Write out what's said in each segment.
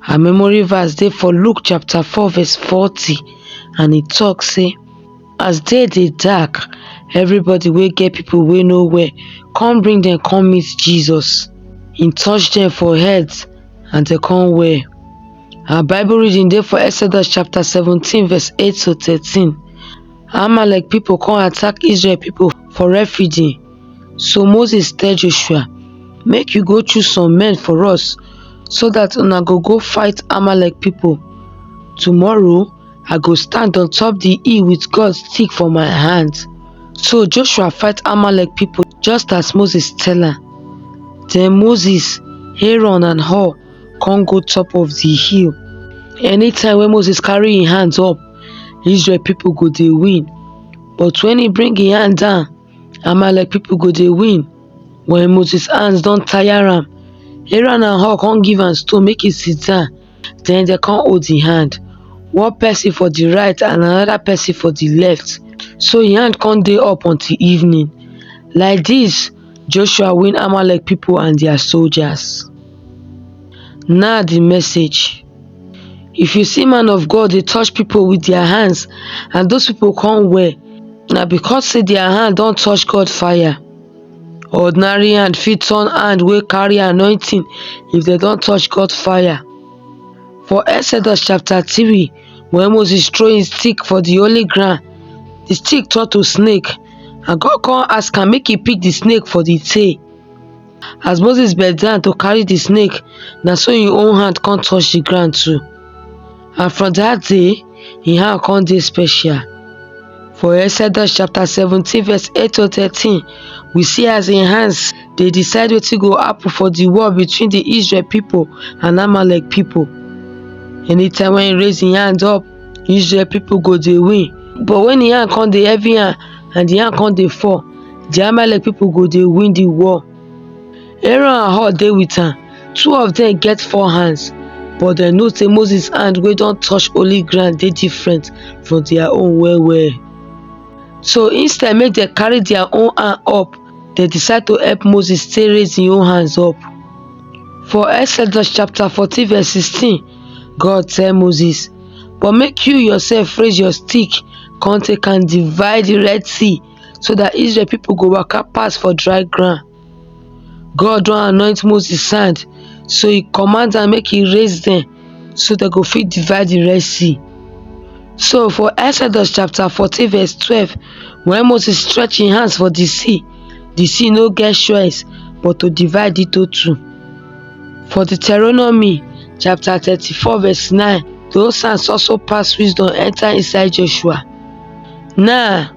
Her memory verse dey for Luke chapter 4 verse 40 and e talk say as day dey dark everybody wey get people wey no well come bring dem come meet Jesus. He touch dem for head and dem come well. Our Bible reading dey for Exodus chapter 17 verse 8 to 13. Amalek people come attack Israel people for refugee So Moses tell Joshua, Make you go choose some men for us, so that una go go fight Amalek people. Tomorrow I go stand on top the hill with God's stick for my hand. So Joshua fight Amalek people just as Moses tell her. Then Moses, Aaron and Hur come go top of the hill. Anytime when Moses carry his hands up, Israel people go they win. But when he bring his hand down, Amalek people go dey win when Moses hands don tire am. Aaron and Hur come give am stone make e sit down. Then they come hold him hand. One person for the right and another person for the left. So him hand come dey up until evening. Like this, Joshua win Amalek people and their soldiers. Now the message. If you see man of God dey touch people with their hands and those people come well, na because say their hand don touch God fire. Ordinary hand fit turn hand wey carry anointing if dem don touch God fire. For Exodus chapter 3, when Moses throw him stick for the holy ground, the stick turn to snake and God come ask am make he pick the snake for the tail. As Moses bend down to carry the snake, na so him own hand come touch the ground too. And from that day, him hand come dey special. For Exodus chapter 17 verse 8 to 13, we see as him hands dey decide wetin go happen for the war between the Israel people and Amalek people. Anytime when he raise him hand up, usually people go dey win but when the hand come dey heavy hand and the hand come dey fall the amalek people go dey win the war aaron and hur dey with am two of them get four hands but dem know say moses hand wey don touch holy ground dey different from their own well well so instead make dem carry their own hand up dem decide to help moses take raise him own hands up for exodus chapter fourteen verse sixteen God tell Moses, But make you yourself raise your stick, come take and divide the Red Sea, so that Israel people go walk up pass for dry ground. God don't anoint Moses' hand, so he commands and make he raise them, so they go fit divide the Red Sea. So for Exodus chapter 14 verse 12, when Moses stretched his hands for the sea, the sea no get choice but to divide it to two. For Deuteronomy chapter 34 verse 9, the Osans also pass wisdom enter inside Joshua. Now,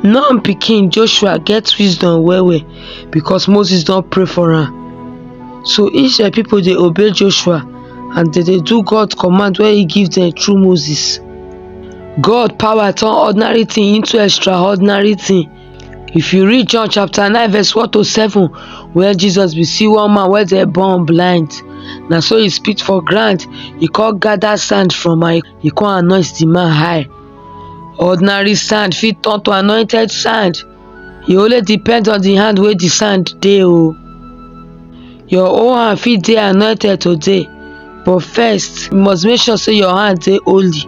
Nun pikin Joshua get wisdom well well because Moses don pray for am. So Israel people dey obey Joshua and dem dey do God command wey he give dem through Moses. God power turn ordinary thing into extraordinary thing. If you read John chapter 9 verse 1 to 7 where Jesus be see one man where they born blind Now so he spit for ground he can't gather sand from my he can't anoint the man high ordinary sand fit turn to anointed sand e only depend on the hand where the sand dey oh. Your own hand fit dey anointed today, but first, you must make sure say your hand dey holy.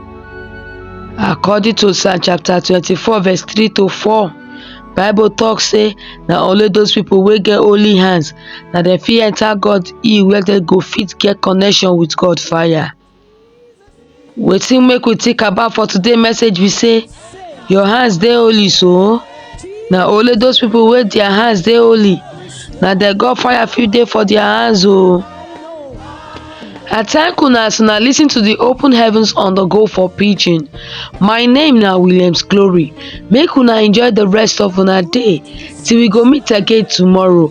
According to Psalm chapter 24, verse 3 to 4, Bible talk say na only those people wey get holy hands na dem fit enter God hill where dem go fit get connection with God fire. Wetin make we think about for today message be say your hands dey holy so na only those people wey their hands dey holy na dem God fire fit dey for their hands o. I thank una as una lis ten to the open heavens on the go for pidgin. My name na Williams Glory. Make una enjoy the rest of una day till we go meet again tomorrow.